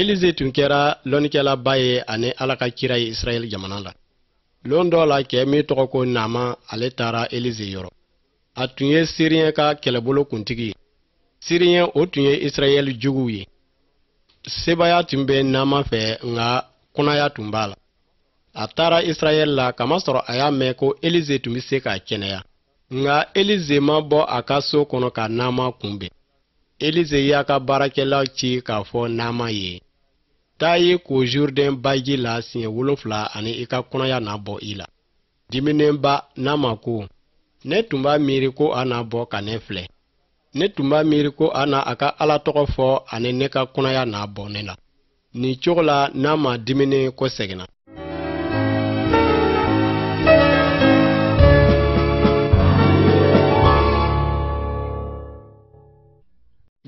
elize tun kɛra lɔnnikɛlaba ye ani ala ka kira ye israɛl jamana la lon dɔ la cɛ min tɔgɔ ko naama ale taara elize yɔrɔ a tun ye siriyɛn ka kɛlɛbolo kuntigi ye siriyɛn o tun ye israɛl juguw ye sebaya tun bɛ naama fɛ nka kunaya tun b'a la a taara israɛl la kamasɔrɔ a y'a mɛn ko elize tun bɛ se k'a kɛnɛya nka elize ma bɔ a ka so kɔnɔ ka naama kunbɛn Elize y'a ka baarakɛla ci k'a fɔ Naama ye, Taa i ko Jurudɛn baji la siɲɛ wolonfila ani i ka kunaya na bɔ i la. Diminenba, Naama ko, Ne tun b'a miiri ko a na bɔ ka ne filɛ. Ne tun b'a miiri ko a na a ka Ala tɔgɔ fɔ ani ne ka kunaya na bɔ ne la. nin cogo la naama diminen kɔseginna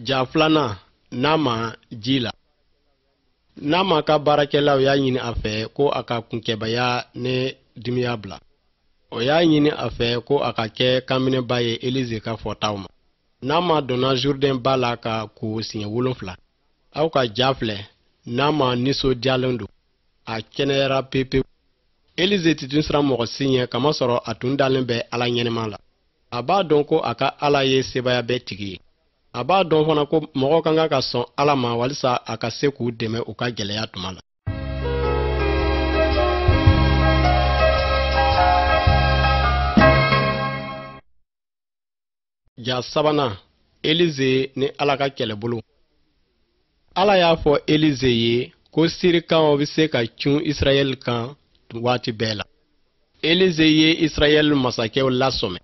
ja filanan naama ji la naama ka baarakɛlaw y'a ɲini a fɛ ko a ka kunkɛbaya ni dimiya bila o y'a ɲini a fɛ ko a ka kɛ kanminɛba ye elize ka fɔtaw ma naama donna zurudɛn ba la ka ko siɲɛ wolonfila aw ka ja filɛ naama nisɔndiyalen don a kɛnɛyara pepewu elize ti tun siran mɔgɔ si ɲɛ kamasɔrɔ a tun dalen bɛ ala ɲɛnama la a b'a dɔn ko a ka ala ye sebaya bɛɛ tigi ye a b'a dɔn fana ko mɔgɔw ka kan ka sɔn ala ma walisa a ka se k'u dɛmɛ u ka gɛlɛya tuma la ja sabanan elize ni ala ka kɛlɛbolo ala y'a fɔ elize ye ko sirikanw bɛ se ka cun israɛl kan waati bɛɛ la elize ye israɛl masakɛw lasɔmɛ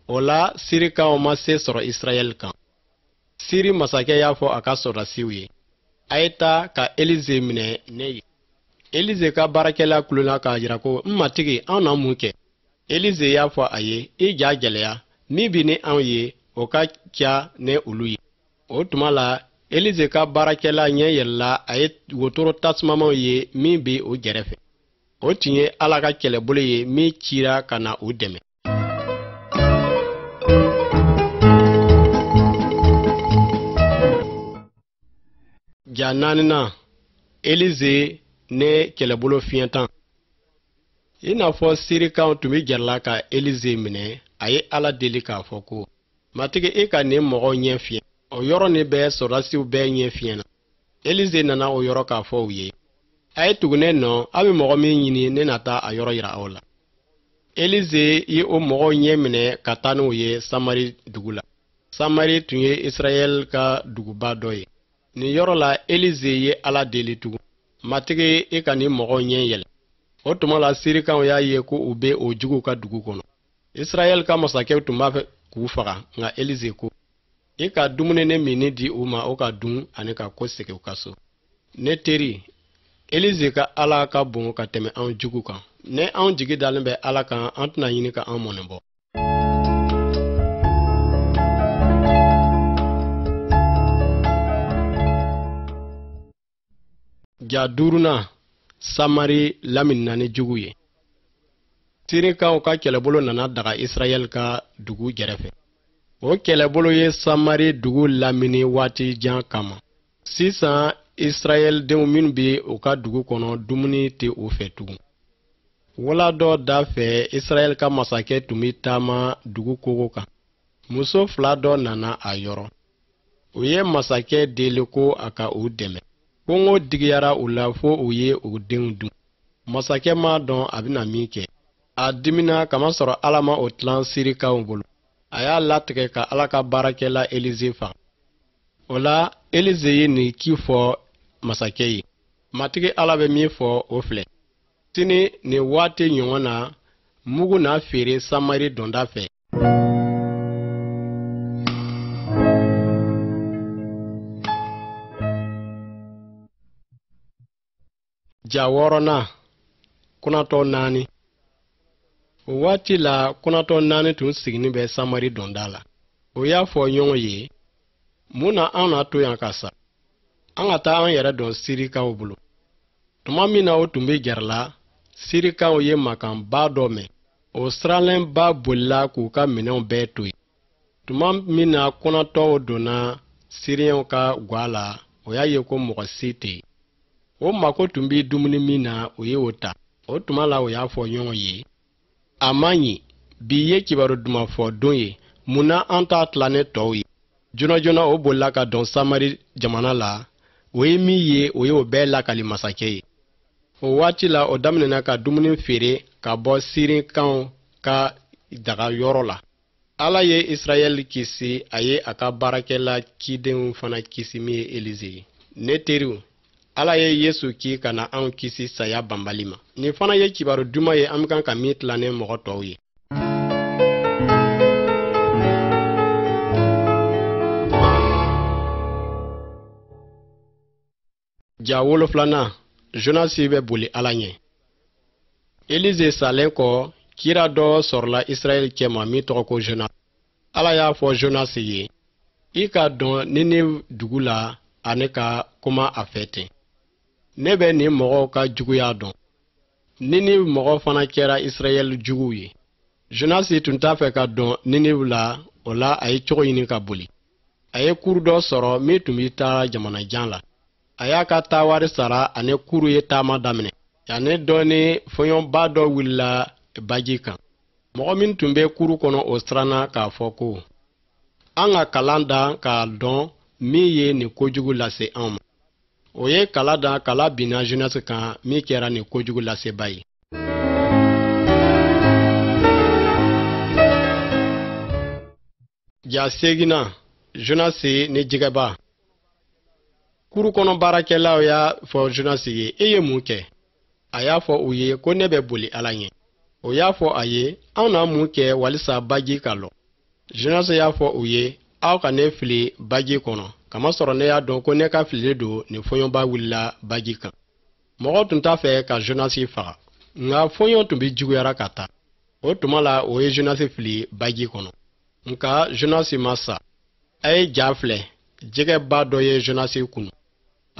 o la sirikanw ma se sɔrɔ israɛl kan siri masakɛ y'a fɔ a ka sɔrɔdasiw ye a ye taa ka elize minɛ ne ye elize ka baarakɛla kulona k'a jira ko n matigi anw na mun kɛ elize y'a fɔ a ye i ja gɛlɛya min bi ni anw ye o ka ca ni olu ye o tuma la elize ka baarakɛla ɲɛ yɛlɛla a ye wotoro tasumamanw ye min bɛ u gɛrɛfɛ o tun ye ala ka kɛlɛbolo ye min cira ka na u dɛmɛ ja naaninan elize ni kɛlɛbolo fiɲɛtɔ i n'a fɔ sirikanw tun bɛ gɛrɛ la ka elize minɛ a ye ala deli k'a fɔ ko matigi i ka nin mɔgɔw ɲɛ fiɲɛ o yɔrɔnin bɛɛ sɔrɔdasiw bɛɛ ɲɛ fiɲɛna elize nana o yɔrɔ k'a fɔ u ye a ye tugu ne nɔ a bɛ mɔgɔ min ɲini ne na taa a yɔrɔ yira aw la elize ye o mɔgɔw ɲɛ minɛ ka taa n'u ye samari dugu la samari tun ye israɛl ka duguba dɔ ye nin yɔrɔ la elize ye ala deli tugun matigi i ka nin mɔgɔw ɲɛ yɛlɛ o tuma la sirikaw y'a ye ko u bɛ o juguw ka dugu kɔnɔ israɛl ka masakɛw tun b'a fɛ k'u faga nka elize ko i ka dumuni ni minni di u ma o ka dun ani ka kɔsegin u ka so ne teri elize ka ala ka bon ka tɛmɛ anw jugu kan ni anw jigi dalen bɛ ala kan an tɛna ɲini ka an mɔnɛ bɔ ja duurunan samari laminina ni jugu ye sirikaw ka kɛlɛbolo nana daga israɛl ka dugu gɛrɛfɛ o kɛlɛbolo ye samari dugu lamini waati jan kama sisan israɛl denw minnu bɛ u ka dugu kɔnɔ dumuni tɛ u fɛ tugun wula dɔ da fɛ israɛl ka masakɛ tun bɛ taama dugu kogo kan muso fila dɔ nana a yɔrɔ u ye masakɛ deli ko a ka u dɛmɛ kɔngɔ digiyara u la fo u ye u denw dun masakɛ m'a dɔn a bɛna min kɛ a dimina kamasɔrɔ ala ma o tilan sirikaw bolo a y'a latigɛ ka ala ka baarakɛla elize faga o la elize ye nin ci fɔ masakɛ ye matigi ala bɛ min fɔ o filɛ sini nin waati ɲɔgɔn na mugu na feere samari donda fɛ ja wɔɔrɔnan kunatɔ naani o waati la kunatɔ naani tun sigilen bɛ samari donda la o y'a fɔ ɲɔgɔn ye mun na an na to yan ka sa an ka taa an yɛrɛ don sirikaw bolo tuma min na o tun bɛ gɛrɛla sirikaw ye makanba dɔ mɛn o siranlenba bolila k'u ka minɛnw bɛɛ to yen tuma min na kunatɔw donna siriyɛnw ka gwa la o y'a ye ko mɔgɔ si tɛ yen o mako tun bɛ dumuni min na o ye o ta o tuma la o y'a fɔ ɲɔgɔn ye a man ɲi bi ye kibaru duman fɔ don ye mun na an t'a tila ni tɔw ye joona joona o bolila ka don samari jamana la o ye min ye o ye o bɛɛ lakali masakɛ ye o waati la o daminɛna ka dumuni feere ka bɔ sirikaw ka daga yɔrɔ la ala ye israɛl kisi a ye a ka baarakɛla cidenw fana kisi min ye elize ye ne teriw ala ye yesu ci ka na anw kisi saya banbali ma nin fana ye kibaru duman ye an kan ka min tila ni mɔgɔ tɔw ye ja wolonfilanan jonasi bɛ boli ala ɲɛ elize salen kɔ kira dɔ sɔrɔla israɛl cɛma min tɔgɔ ko jonas ala y'a fɔ jonas ye i ka don ninive dugu la ani ka kuma a fɛ ten ne bɛ nin mɔgɔw ka juguya dɔn ninive mɔgɔ fana kɛra israɛl juguw ye jonasi tun t'a fɛ ka don ninive la o la a ye cogo ɲini ka boli a ye kuru dɔ sɔrɔ min tun bɛ taa jamana jan la a y'a ka taawari sara ani kuru ye taama daminɛ yanni dɔɔni fɔɲɔba dɔ wulila baji kan mɔgɔ minw tun bɛ kuru kɔnɔ o siranna k'a fɔ ko an ka kala dan k'a dɔn min ye nin kojugu lase an ma o ye kala dan kala binna jonasi kan min kɛra nin kojugu laseba ye ja seginnan jonasi ni jɛgɛba kuru kɔnɔ baarakɛlaw y'a fɔ jonasi ye e ye mun kɛ a y'a fɔ u ye ko ne bɛ boli ala ɲɛ o y'a fɔ a ye anw na mun kɛ walisa baji ka lɔ jonasi y'a fɔ u ye aw ka ne fili baji kɔnɔ kamasɔrɔ ne y'a dɔn ko ne ka filili don nin fɔɲɔba wulila baji kan mɔgɔ tun t'a fɛ ka jonasi faga nka fɔɲɔ tun bɛ juguyara ka taa o tuma la o ye jonasi fili baji kɔnɔ nka jonasi ma sa a ye ja filɛ jɛgɛba dɔ ye jonasi kunu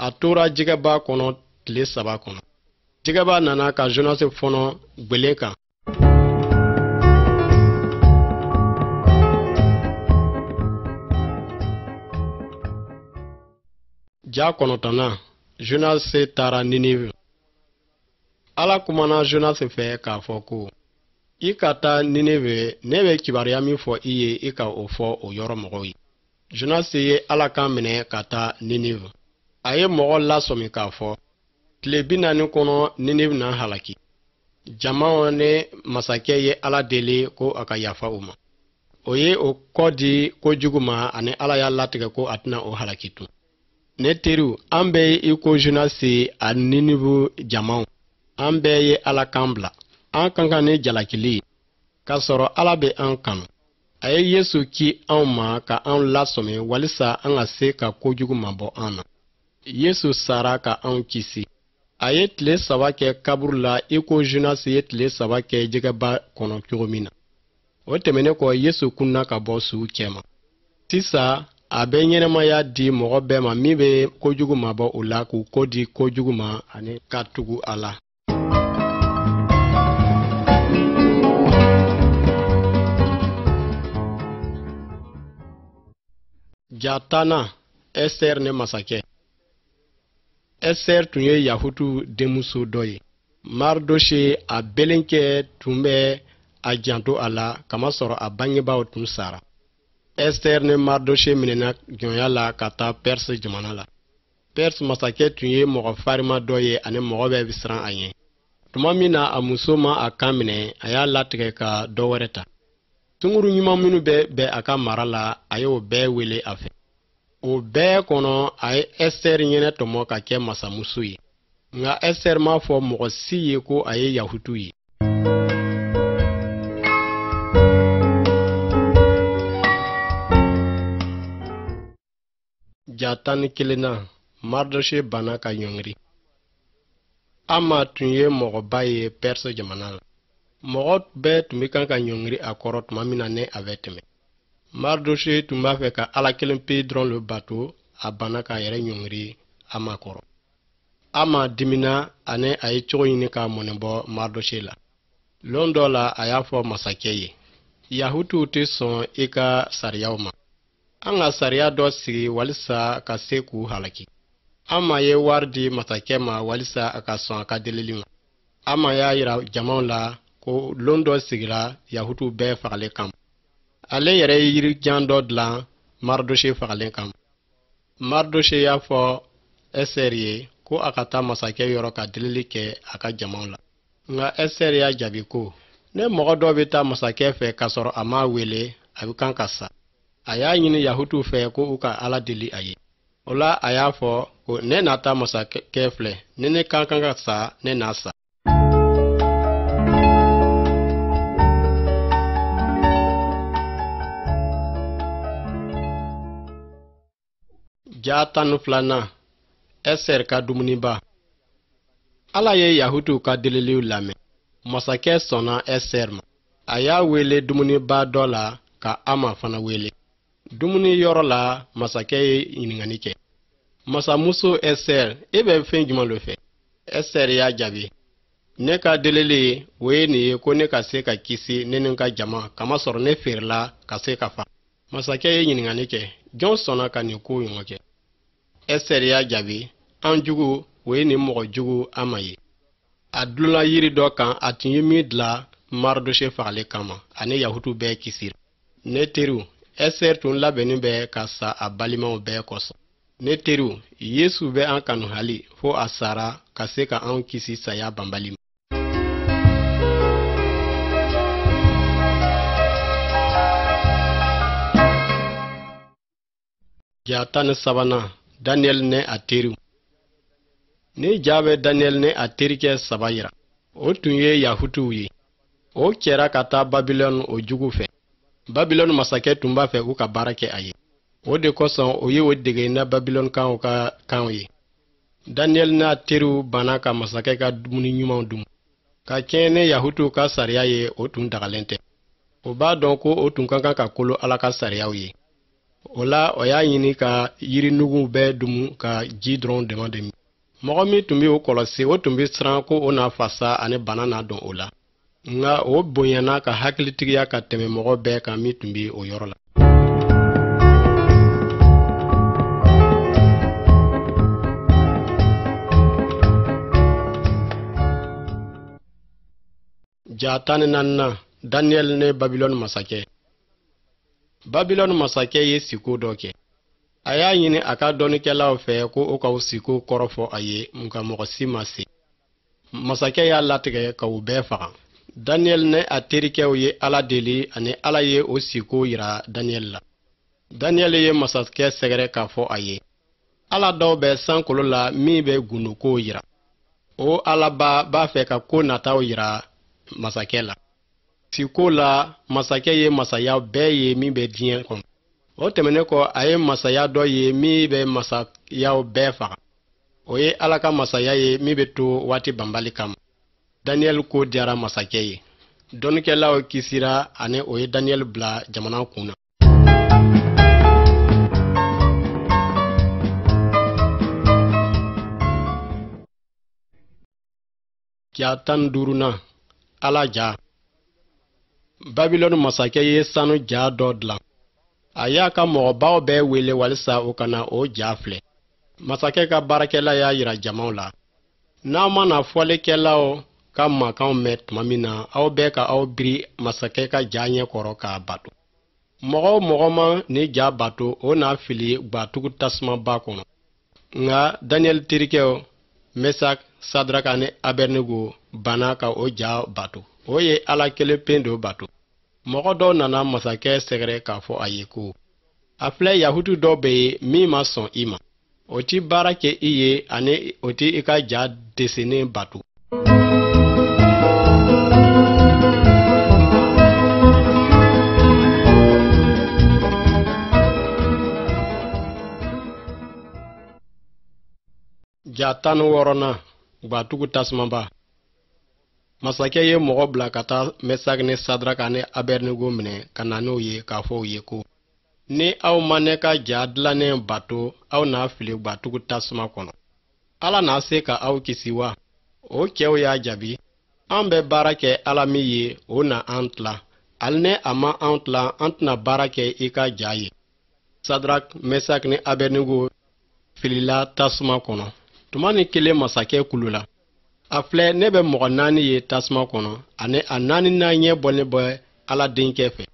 a tora jɛgɛba kɔnɔ tile saba kɔnɔ jɛgɛba nana ka jonasi fɔɔnɔ gwelen kan ja kɔnɔntɔnnan jonasi taara ninive ala kumana jonasi fɛ k'a fɔ ko i ka taa ninive ne bɛ kibaruya min fɔ i ye i ka o fɔ o yɔrɔ mɔgɔw ye jonasi ye ala kan minɛ ka taa ninive a ye mɔgɔ lasɔmi k'a fɔ tile bi naani kɔnɔ ninive na halaki jamaw ni masakɛ ye ala deli ko a ka yafa u ma o ye o kɔ di kojugu ma ani ala y'a latigɛ ko a tɛna o halaki tun ne teriw an bɛɛ ye i ko jonasi a ninive jamaw an bɛɛ ye ala kan bila an ka kan ni jalakili ye k'a sɔrɔ ala bɛ an kanu a ye yesu ki anw ma ka anw lasɔmi walisa an ka se ka kojugu mabɔ an na yesu sara ka anw kisi a ye tile saba kɛ kaburu la i ko jonasi ye tile saba kɛ jɛgɛba kɔnɔ cogo min na o tɛmɛnen kɔ yesu kunna ka bɔ suw cɛma sisan a bɛ ɲɛnamaya di mɔgɔ bɛɛ ma min bɛ kojugu mabɔ u la k'u kɔ di kojugu ma ani ka tugu a la ja tannan ɛsitɛri ni masakɛ ɛsitɛri tun ye yahutu denmuso dɔ ye maridose a belenkɛ tun bɛ a janto a la kamasɔrɔ a bangebaaw tun sara ɛsitɛri ni maridose minɛna jɔnya la ka taa pɛrisi jamana la pɛrisi masakɛ tun ye mɔgɔ farima dɔ ye ani mɔgɔ bɛɛ bɛ siran a ɲɛ tuma min na a muso ma a kan minɛ a y'a latigɛ ka dɔ wɛrɛ ta sunguru ɲuman minnu bɛɛ bɛ a ka mara la a y'o bɛɛ wele a fɛ o bɛɛ kɔnɔ a ye ɛsitɛri ɲɛnatɔmɔ ka kɛ masamuso ye nka ɛsitɛri m'a fɔ mɔgɔ si ye ko a ye yahutu ye ja tan ni kelennan mardoshe banna ka ɲɔngiri ama tun ye mɔgɔba ye pɛrisi jamana la mɔgɔ bɛɛ tun bɛ kan ka ɲɔngiri a kɔrɔ tuma min na ni a bɛ tɛmɛ mardoshe tun b'a fɛ ka ala kelen pe dɔrɔn le bato a banna k'a yɛrɛ ɲɔngiri ama kɔrɔ ama dimina ani a ye cogo ɲini k'a mɔnɛ bɔ mardoshe la lon dɔ la a y'a fɔ masakɛ ye yahutuw tɛ sɔn i ka sariyaw ma an ka sariya dɔ sigi walisa ka se k'u halaki ama ye wari di masakɛ ma walisa a ka sɔn a ka delili ma ama y'a yira jamaw la ko lon dɔ sigira yahutuw bɛɛ fagalen kama ale yɛrɛ ye yirijan dɔ dilan maridose fagalen kama mardoshe y'a fɔ ɛsitɛri ye ko a ka taa masakɛ yɔrɔ ka delili kɛ a ka jamaw la nka ɛsitɛri y'a jaabi ko ni mɔgɔ dɔ bɛ taa masakɛ fɛ k'a sɔrɔ a m'a wele a bɛ kan ka sa a y'a ɲini yahutuw fɛ ko u ka ala deli a ye o la a y'a fɔ ko ne na taa masakɛ filɛ ni ne ka kan ka sa ne na sa ja tan ni filanan ɛsitɛri ka dumuniba ala ye yahutuw ka deliliw lamɛn masakɛ sɔnna ɛsitɛri ma a y'a wele dumuniba dɔ la ka ama fana wele dumuni yɔrɔ la masakɛ ye ɲininkali kɛ masamuso ɛstɛri e bɛ fɛn jumɛn lo fɛ ɛstɛri y'a jaabi ne ka delili o ye nin ye ko ne ka se ka kisi ne ni n ka jama kamasɔrɔ ne feerela ka se ka fa masakɛ ye ɲininkali kɛ jɔn sɔnna ka nin ko ɲɔgɔn kɛ ɛstɛri y'a jaabi an jugu o ye nin mɔgɔ jugu aman ye a dulonna yiri dɔ kan a tun ye min dila maridose fagali kama ani yahutu bɛɛ kisira ne teriw ɛstɛri tun labɛnnen bɛ ka sa a balimaw bɛɛ kosɔn ne teriw yesu bɛ an kanu hali fo a sara ka se ka anw kisi saya banbali ma Ja tan ni sabanan daniyɛli ni a teriw nin ja bɛ daniyɛli ni a terikɛ saba yira o tun ye yahutuw ye o cɛra ka taa babilɔni o jugu fɛ babilɔni masakɛ tun b'a fɛ u ka baara kɛ a ye o de kosɔn o ye o dege na babilɔnikaw ka kanw ye daniyɛli n'a teriw banna ka masakɛ ka dumuni ɲumanw dun ka kɛɲɛ ni yahutuw ka sariya ye o tun dagalen tɛ o b'a dɔn ko o tun ka kan ka kolo ala ka sariyaw ye o la o y'a ɲini ka yirinuguw bɛɛ dumu ka ji dɔrɔn dama de min mɔgɔ min tun bɛ o kɔlɔsi o tun bɛ siran ko o na fasa ani bana na don o la nka o bonyana ka hakilitigiya ka tɛmɛ mɔgɔ bɛɛ kan min tun bɛ o yɔrɔ la ja tan ni naaninan daniyɛli ni babilɔni masakɛ babilɔni masakɛ ye siko dɔ kɛ a y'a ɲini a ka dɔnnikɛlaw fɛ ko o ka o siko kɔrɔ fɔ a ye nka mɔgɔ si ma se masakɛ y'a latigɛ ka u bɛɛ faga daniyɛli ni a terikɛw ye ala deli ani ala ye o siko yira daniyɛli la daniyɛli ye masakɛ sɛgɛrɛ k'a fɔ a ye ala dɔ bɛ sankolo la min bɛ gundokow yira o alaba b'a fɛ ka ko nataw yira masakɛ la siko la masakɛ ye masaya bɛɛ ye min bɛ diɲɛ kɔnɔ o tɛmɛnen kɔ a ye masaya dɔ ye min bɛ masayaw bɛɛ faga o ye ala ka masaya ye min bɛ to waati banbali kama daniyɛli ko diyara masakɛ ye dɔnnikɛlaw kisira ani o ye daniyɛli bila jamana kun na ja tan ni duurunan ala ja babilɔni masakɛ ye sanu ja dɔ dilan a y'a ka mɔgɔbaw bɛɛ wele walisa u ka na o ja filɛ masakɛ ka baarakɛla y'a yira jamaw la n'aw mana fɔlikɛlaw ka makanw mɛn tuma min na aw bɛɛ ka aw biri masakɛ ka ja ɲɛ kɔrɔ k'a bato mɔgɔ o mɔgɔ ma ni ja bato o na fili gwatugu tasumaba kɔnɔ nka daniyɛli terikɛw mesak sadraka ni abɛrnigo banna ka o ja bato o ye ala kelen pe do bato mɔgɔ dɔw nana masakɛ sɛgɛrɛ k'a fɔ a ye ko a filɛ yahutu dɔw bɛ yen min ma sɔn i ma o ti baara kɛ i ye ani o ti i ka ja dɛsɛnen bato ja tan ni wɔɔrɔnan gwatugu tasumaba masakɛ ye mɔgɔ bila ka taa mesak ni sadraka ni abɛrinigo minɛ ka na n'o ye k'a fɔ u ye ko ni aw ma ne ka ja dilannen bato aw na fili gwatugu tasuma kɔnɔ ala na se ka aw kisi wa o cɛw y'a jaabi an bɛ baara kɛ ala min ye o na an tila hali ni a ma an tila an tɛna baara kɛ i ka ja ye sadrak mesak ni abɛnigo filila tasuma kɔnɔ tumanin kelen masakɛ kulola a filɛ ne bɛ mɔgɔ naani ye tasuma kɔnɔ ani a naaninan ɲɛ bɔlen bɛ ala denkɛ fɛ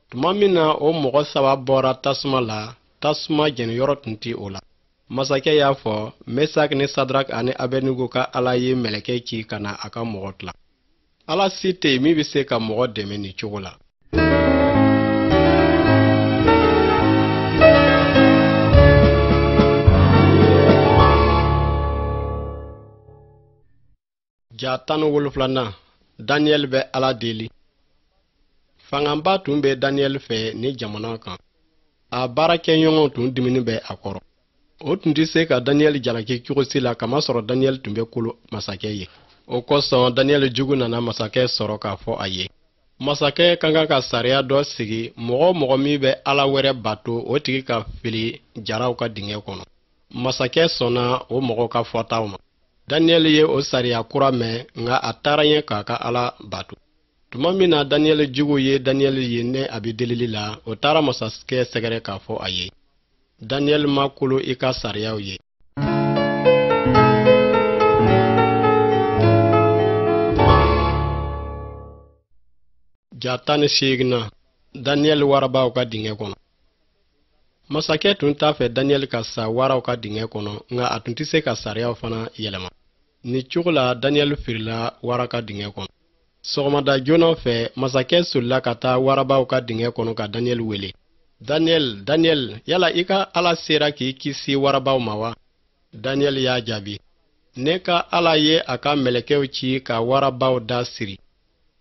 tuma min na o mɔgɔ saba bɔra tasuma la tasuma jɛniyɔrɔ tun tɛ o la masakɛ y'a fɔ mesak ni sadrak ani abɛnigo ka ala ye mɛlɛkɛ ci ka na a ka mɔgɔ tila ala si tɛ yen min bɛ se ka mɔgɔ dɛmɛ nin cogo la ja tan ni wolonfilanan daniyɛli bɛ ala deli fangaba tun bɛ daniyɛli fɛ ni jamana kan a baarakɛɲɔgɔnw tun diminen bɛ a kɔrɔ o tun tɛ se ka daniyɛli jalaki cogo si la kamasɔrɔ daniyɛli tun bɛ kolo masakɛ ye o kosɔn daniyɛli juguw nana masakɛ sɔrɔ k'a fɔ a ye masakɛ ka kan ka sariya dɔ sigi mɔgɔ o mɔgɔ min bɛ ala wɛrɛ bato o tigi ka fili jaraw ka dingɛ kɔnɔ masakɛ sɔnna o mɔgɔw ka fɔtaw ma daniyɛli ye o sariya kura mɛn nka a taara ɲɛ k'a ka ala bato tuma min na daniyɛli juguw ye daniyɛli ye ni a bɛ delili la o taara masakɛ sɛgɛrɛ k'a fɔ a ye daniyɛli ma kolo i ka sariyaw ye ja tan ni seeginnan daniyɛli warabaw ka dingɛ kɔnɔ masakɛ tun t'a fɛ daniyɛli ka sa waraw ka dingɛ kɔnɔ nka a tun tɛ se ka sariyaw fana yɛlɛma ni cogo la daniyɛli firila wara ka dingɛ kɔnɔ sɔgɔmada joona fɛ masakɛ solila ka taa warabaw ka dingɛ kɔnɔ ka daniyɛli wele daniyɛli daniyɛli yala i ka ala sera k'i kisi warabaw ma wa daniyɛli y'a jaabi ne ka ala ye a ka mɛlɛkɛw ci ka warabaw da siri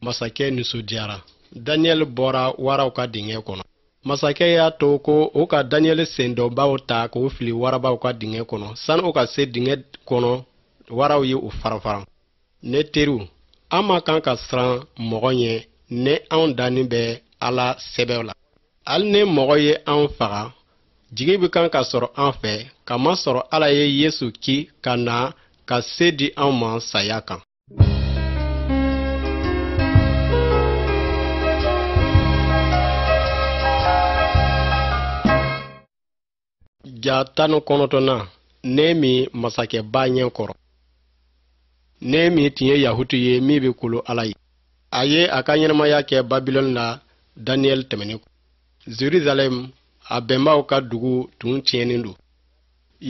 masakɛ nisɔndiyara daniyɛli bɔra waraw ka dingɛ kɔnɔ masakɛ y'a to ko o ka daniyɛli sendɔnbaw ta k'o fili warabaw ka dingɛ kɔnɔ sani o ka se dingɛ kɔnɔ waraw ye u farafaran ne teriw an man kan ka siran mɔgɔ ɲɛ ni anw dannen bɛ ala sɛbɛ la hali ni mɔgɔ ye anw faga jigi bɛ kan ka sɔrɔ an fɛ kamasɔrɔ ala ye yesu ci ka na ka se di anw ma saya kan ja tan ni kɔnɔntɔnnan nɛɛmi masakɛba ɲɛ kɔrɔ nɛɛmi tun ye yahutu ye min bɛ kolo ala ye a ye a ka ɲɛnamaya kɛ babilɔni la daniyɛli tɛmɛnen kɔ jerusalɛm a bɛnbaw ka dugu tun tiɲɛnen don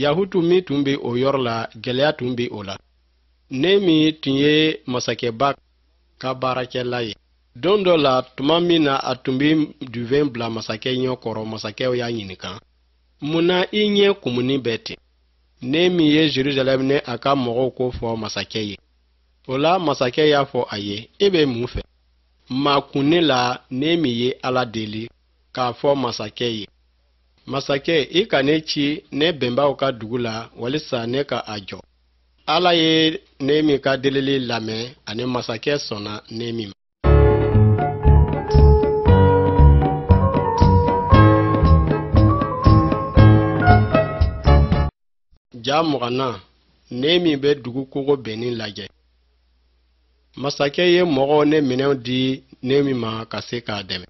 yahutu min tun bɛ o yɔrɔ la gɛlɛya tun bɛ o la nɛɛmi tun ye masakɛba ka baarakɛla ye don dɔ la tuma min na a tun bɛ duvɛn bila masakɛ ɲɛ kɔrɔ masakɛ y'a ɲininka mun na i ɲɛ kumunen bɛ ten nɛɛmi ye jerusalɛm ni a ka mɔgɔw ko fɔ masakɛ ye o la masakɛ y'a fɔ a ye e bɛ mun fɛ makunni la nɛɛmi ye ala deli k'a fɔ masakɛ ye masakɛ i ka ne ci ne bɛnbaw ka dugu la walisa ne ka a jɔ ala ye nɛɛmi ka delili lamɛn ani masakɛ sɔnna nɛɛmi ma ja mugannan nɛɛmi bɛ dugu kogo binnen lajɛ masakɛ ye mɔgɔw ni minɛnw di nɛɛmi ma ka se k'a dɛmɛ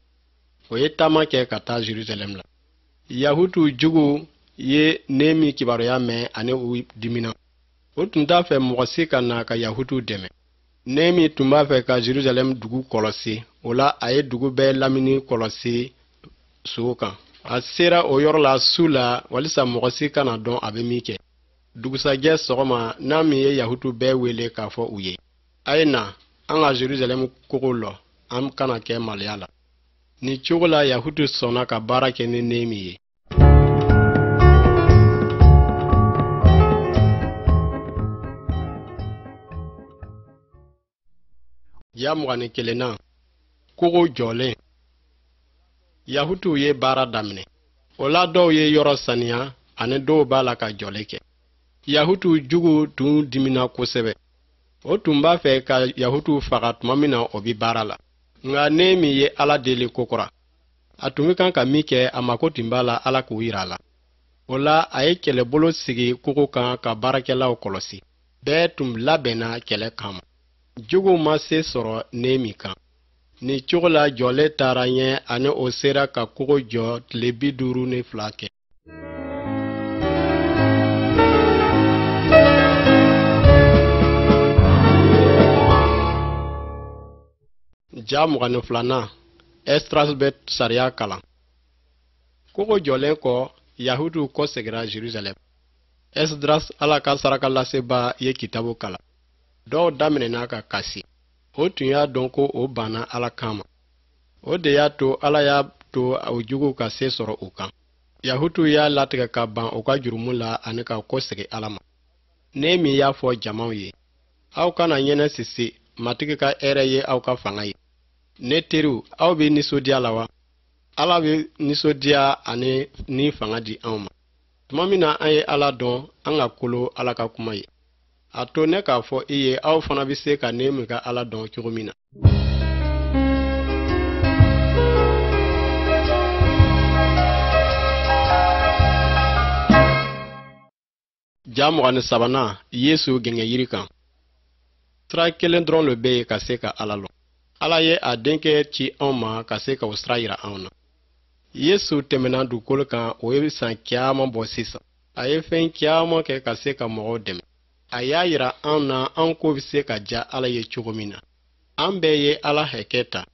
o ye taama kɛ ka taa jerusalɛm la yahutuw juguw ye nɛɛmi kibaruya mɛn ani u dimina o tun t'a fɛ mɔgɔ si ka na ka yahutuw dɛmɛ nɛɛmi tun b'a fɛ ka jerusalɛm dugu kɔlɔsi o la a ye dugu bɛɛ lamini kɔlɔsi so kan a sera o yɔrɔ la su la walisa mɔgɔ si kana dɔn a bɛ min kɛ dugusajɛ sɔgɔma nɛɛmi ye yahutuw bɛɛ wele k'a fɔ u ye a ye na an ka jerusalɛm kogo lɔ an kana kɛ maloya la Nin cogo la Yahutuw sɔnna ka baara kɛ ni Nehemi ye. Ja mugan ni kelennan kogo jɔlen Yahutuw ye baara daminɛ. O la dɔw ye yɔrɔ saniya ani dɔw b'a la ka jɔli kɛ. Yahutuw juguw tun dimina kosɛbɛ. o tun b'a fɛ ka yahutuw faga tuma min na o bi baara la nka nehemi ye ala deli kokura a tun bɛ kan ka min kɛ a mako tun b'a la ala k'o yira a la o la a ye kɛlɛbolo sigi kogo kan ka baarakɛlaw kɔlɔsi bɛɛ tun labɛnna kɛlɛ kama juguw ma se sɔrɔ nehemi kan nin cogo la jɔlen taara ɲɛ ani o sera ka kogo jɔ tile bi duuru ni fila kɛ ja mugan ni filanan esdras bɛ sariya kalan kogo jɔlen kɔ yahutuw kɔsegira jerusalɛm esdras ala ka sarakalaseba ye kitabu kalan dɔw daminɛna ka kasi o tun y'a dɔn ko o banna ala kan ma o de y'a to ala y'a to o juguw ka se sɔrɔ u kan yahutuw y'a latigɛ ka ban u ka jurumu la ani ka kɔsegi ala ma nehemi y'a fɔ jamaw ye aw kana ɲɛnasisi matigi ka hɛrɛ ye aw ka fanga ye ne teriw aw bɛ nisɔndiya la wa ala bɛ nisɔndiya ani ni fanga di anw ma tuma min na an ye ala dɔn an ka kolo ala ka kuma ye a to ne k'a fɔ i ye aw fana bɛ se ka nehemi ka ala dɔn cogo min na ja mugan ni sabanan yesu gɛngɛnyiri kan sira kelen dɔrɔn le bɛ yen ka se ka ala lɔn ala ye a denkɛ ci anw ma ka se ka o sira yira anw na yesu tɛmɛna dugukolo kan o ye san caman bɔ sisan a ye fɛn caman kɛ ka se ka mɔgɔw dɛmɛ a y'a yira an na an ko bɛ se ka diya ala ye cogo min na an bɛɛ ye ala hakɛ ta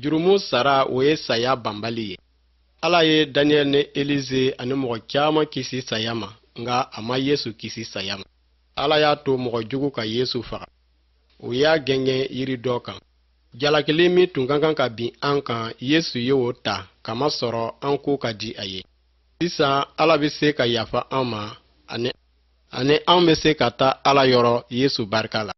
jurumu sara o ye saya banbali ye ala ye daniyɛl ni elize ani mɔgɔ caman kisi saya ma nka a ma yesu kisi saya ma ala y'a to mɔgɔ jugu ka yesu faga u y'a gɛngɛn yiri dɔ kan jalakili min tun ka kan ka bin an kan yesu ye o ta kamasɔrɔ an ko ka di a ye sisan ala bɛ se ka yafa an ma ani anw bɛ se ka taa ala yɔrɔ yesu barika la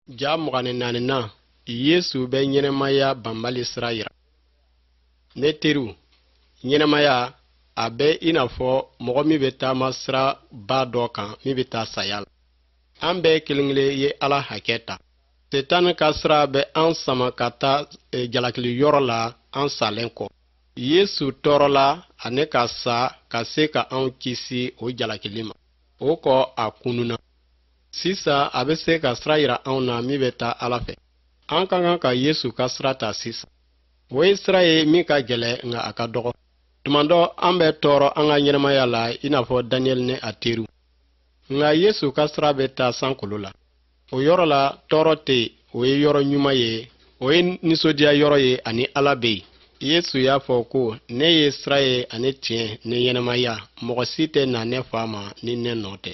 ja mugan ni naaninan yesu bɛ ɲɛnamaya banbali sira yira ne teriw ɲɛnamaya a bɛ i n'a fɔ mɔgɔ min bɛ taama siraba dɔ kan min bɛ taa saya la an bɛɛ kelen kelen ye ala hakɛ ta setan ka sira bɛ an sama ka taa jalakili yɔrɔ la an salen kɔ yesu tɔɔrɔla ani ka sa ka se ka anw kisi o jalakili ma o kɔ a kununa Sisan a bɛ se ka sira yira anw na min bɛ taa Ala fɛ. An ka kan ka Yesu ka sira ta sisan. O ye sira ye min ka gɛlɛn nka a ka dɔgɔ. Tuma dɔ an bɛ tɔɔrɔ an ka ɲɛnamaya la i n'a fɔ Daniel ni a teriw. Nka Yesu ka sira bɛ taa sankolo la. O yɔrɔ la tɔɔrɔ tɛ yen, o ye yɔrɔ ɲuman ye, o ye nisɔndiya yɔrɔ ye ani Ala bɛ yen. Yesu y'a fɔ ko, Ne ye sira ye ani tiɲɛ ni ɲɛnamaya, mɔgɔ si tɛ na ne Fa ma ni ne nɔ tɛ.